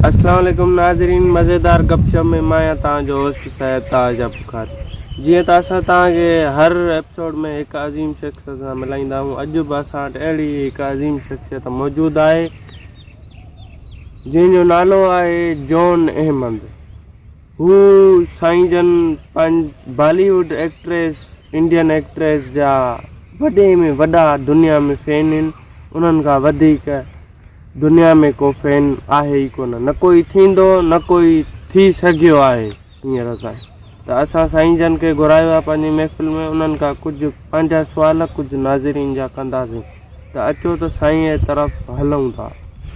السلام عليڪم ناظرين مزيدار گپ شپ ۾ مان آهيان توهان جو هوسٽ سيد تاج ابو خار جيئن ته اسان توهان کي هر ايپسوڊ ۾ هڪ عظيم شخصيت سان ملائيندا آهيون اڄ به اسان وٽ اهڙي هڪ عظيم شخصيت موجود آهي جنهن جو نالو آهي جون احمد. هو سائين جن Bollywood actress Indian actress جا وڏي ۾ وڏا دنيا ۾ فين هن انهن کان وڌيڪ دنيا ۾ ڪو فين آهي ئي ڪونه نه ڪوئي ٿيندو نه ڪوئي ٿي سگهيو آهي. هينئر تائين ته اسان سائين جن کي گهرايو آهي پنهنجي محفل ۾ انهن کان ڪجهه پنهنجا سوال ڪجهه ناظرين جا ڪنداسين ته اچو ته سائين اي طرف هلون ٿا.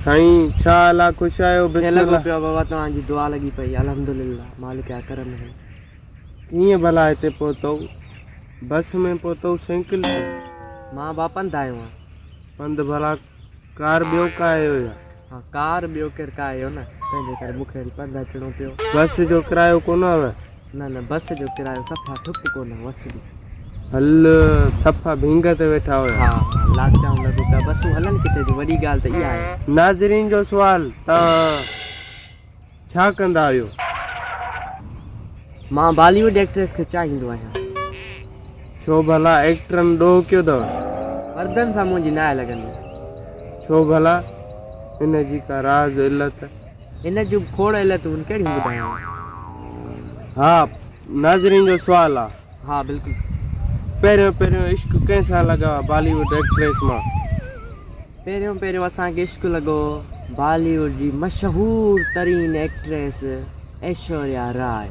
سائين ڇا حال آ خوش آهيو بسم الله. ڪيئن لڳو پيو بابا توهان جي دعا لڳي پئي الحمدلله مالڪ جا ڪرم اهي. ڪيئن ڀلا هتي پهتئو بس ۾ پهتئو سينڪل تي. مان با پنڌ آيو آهيان. پنڌ ڀلا. ڪار ٻيو ڪا اهو يا؟ ها ڪار ٻيو ڪير ڪا اهو نه. تنهن جي ڪري مونکي وري پنڌ اچڻو پيو. بس جو ڪرايو ڪونه هوء؟ نه نه بس جو ڪرايو صفا ٺپ ڪونه هوس به. هل صفا ڀينگ تي ويٺا هيا. ها ها لاچائون لڳو پيا. بسون هلن ڪٿي ٿيون وڏي ڳالهه ته اها آهي. ناظرين جو سوال ته. ڇا ڪندا آهيو؟ مان بالي ووڊ ايڪٽريس کي چاهيندو آهيان. ڇو ڀلا ايڪٽرن ڏوهه ڪيو اٿو؟ مردن سان منهنجي ناهي لڳندي. ڇو ڀلا؟ ان جي ڪا راز علت؟ ان جون به کوڙ علتون ڪهڙيون ٻڌايان. ها ناظرين جو سوال آهي. ها بلڪل پهريون پهريون عشق ڪنهن سان لڳا بالي ووڊ ايڪٽريس مان. پهريون پهريون اسان کي عشق لڳو بالي ووڊ جي مشهور ترين ايڪٽريس ايشوريا راء.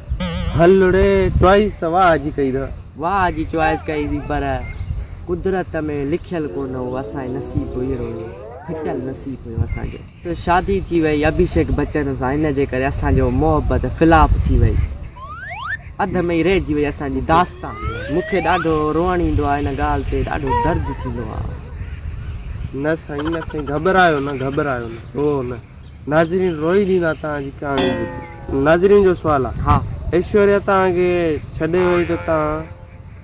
هلڙي چوائيس ته واهه جي ڪئي اٿئي. واهه جي چوائيس ڪئي اٿئي پر قدرت ۾ لکيل ڪونه هو اسان جي نصيب هيرو هيو ڦٽل نصيب هيو اسان جو. سندس شادي ٿي وئي اڀيشيڪ بچن سان ان جي ڪري اسان جو محبت فلاپ ٿي وئي اڌ ۾ ئي رهجي وئي اسان جي داستان مون کي ڏاڍو روئڻ ايندو آهي ان ڳالهه تي ڏاڍو درد ٿيندو آهي. نه سائين نه سائين گهٻرايو نه گهٻرايو نه روئو نه ناظرين روئي ڏيندا توهان جي ڪهاڻي ٻڌي ناظرين جو سوال آهي ايشوريا توهان کي ڇڏي وئي ته توهان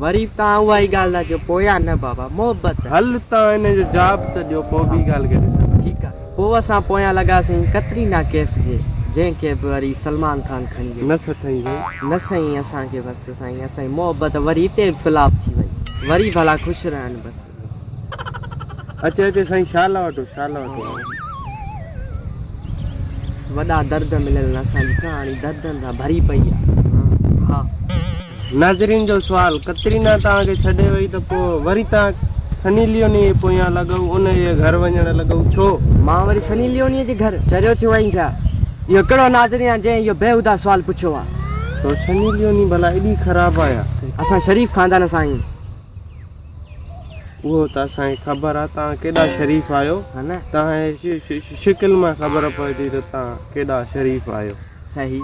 وري به توهان اها ئي ڳالهه ٿا چئو پويان نه بابا محبت. هل توهان هن جو جواب ته ڏيو پوء ٻي ڳالهه کي ڏسنداسين. ٺيڪ آ. پوء اسان پويان لڳاسين ڪترينا ڪيف جي جنهن کي به وري سلمان خان کڻي ويو. نه سٿئي سائين. نه سائين اسان کي بس سائين اسان جي محبت وري هتي به فلاپ ٿي وئي وري ڀلا خوش رهن بس. اچي اچي سائين شال وٺو شال وٺو. وڏا درد مليل اسان جي ڪهاڻي دردن سان ڀري پئي آ ها. ناظرين جو سوال ڪترينا توهان کي ڇڏي وئي ته پو وري توهان سني ليوني جي پويان لڳئو ان جي گهر وڃڻ لڳئو ڇو؟ مان وري سني ليوني جي گهر چريو ٿيو آهين ڇا؟ اهو ڪهڙو ناظرين آ جنهن اهو بيهودا سوال پڇيو آ. ڇو سني ليوني ڀلا ايڏي خراب آ ڇا؟ اسان شريف خاندان سان آهيون. اهو ته اسان کي خبر آ توهان ڪيڏا شريف آهيو توهان جي شڪل مان خبر پوي ٿي ته توهان ڪيڏا شريف آهيو صحيح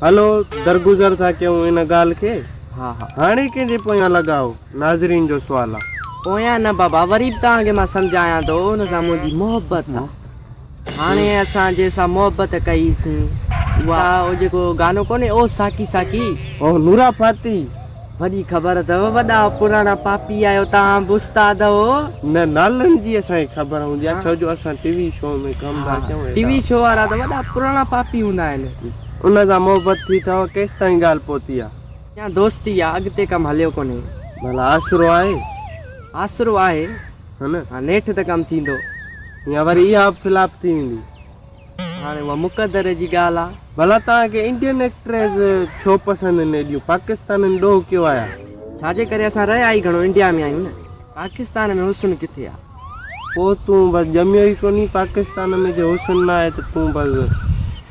هلو درگذر ٿا ڪيون ان ڳالهه کي ها ها هاڻي ڪنهن جي پويان لڳا آهو ناظرين جو سوال آ پويان نه بابا وري به توهان کي مان سمجهايان ٿو ان سان منهنجي محبت آ هاڻي اسان جنهن سان محبت ڪئي سين. اها او جيڪو گانو ڪونهي او ساقي ساقي. او نورا فاتي وڏي خبر اٿو وڏا پراڻا پاپي آهيو توهان به استاد اهو. نه نالن جي اسان کي خبر هوندي آ ڇو جو اسان ٽي وي شو ۾ ڪم ٿا ڪيون ايڏا. ٽي وي شو وارا ته وڏا پراڻا پاپي هوندا آهن. ان سان محبت ٿي اٿو ڪيستائين ڳالهه پهتي آ. اڃا دوستي آ اڳتي ڪم هليو ڪونهي. ڀلا آسرو آهي. آسرو آهي. ها نه ها نيٺ ته ڪم ٿيندو يا وري اها به فلاپ ٿي ويندي هاڻي اها مقدر جي ڳالهه آهي ڀلا توهان کي انڊين ايڪٽريز ڇو پسند آهن ايڏيون پاڪستانين ڏوهه ڪيو آهي ڇا جي ڪري اسان رهيا ئي گهڻو انڊيا ۾ آهيون نه پاڪستان ۾ حسن ڪٿي آهي پوء تون بس ڄميو ئي ڪونهي پاڪستان ۾ جي حسن نه آهي ته تون بس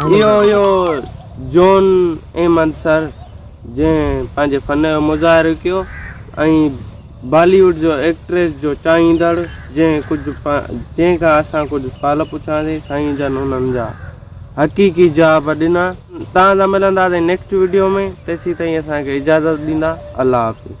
اهو هيو جون احمد سر جنهن پنهنجي فن جو مظاهرو ڪيو ۽ بالي ووڊ جو ايڪٽريس جو چاهيندڙ جنهن ڪجهه جنهن کان اسان ڪجهه سوال پڇياسين سائين جن انهن جا حقيقي جواب ڏنا توهان سان ملنداسين نيڪسٽ ويڊيو ۾ تيسي تائين اسان کي اجازت ڏيندا الله حافظ